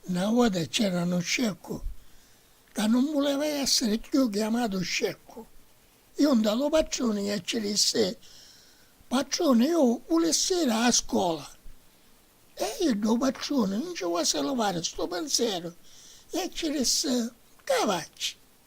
Na vota c'era nu sceccu ca nun vuleva essiri cchiù chiamatu sceccu. Iu nta lu patruni e ci dissi, Patruni, iu vulissi iri a scola. E iddu, u patruni, nun ci vuasi livari stu pinzeru e ci dissi, Ca facci?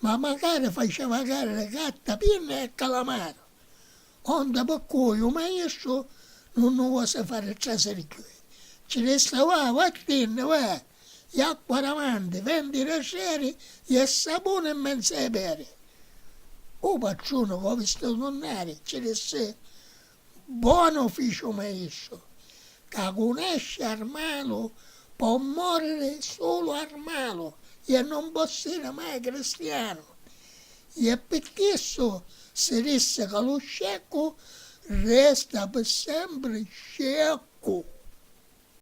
Ma macari facia vagari li carta piena e calamari, onde pi cui u maistru nun nu vosi fari trasiri cchiui. Ci dissi, Va, vattinni, va, iacqua davanti, venti raseri i e sapuni in menzu ai peri. U patruni, cu u vistitu tunnari, ci dissi, Buonu fici u maistru, ca cu nesci armalu po moriri sulu armalu ie non po siri mai cristianu. Ie pi chissu si dissi ca lu sceccu resta pi sempri sceccu.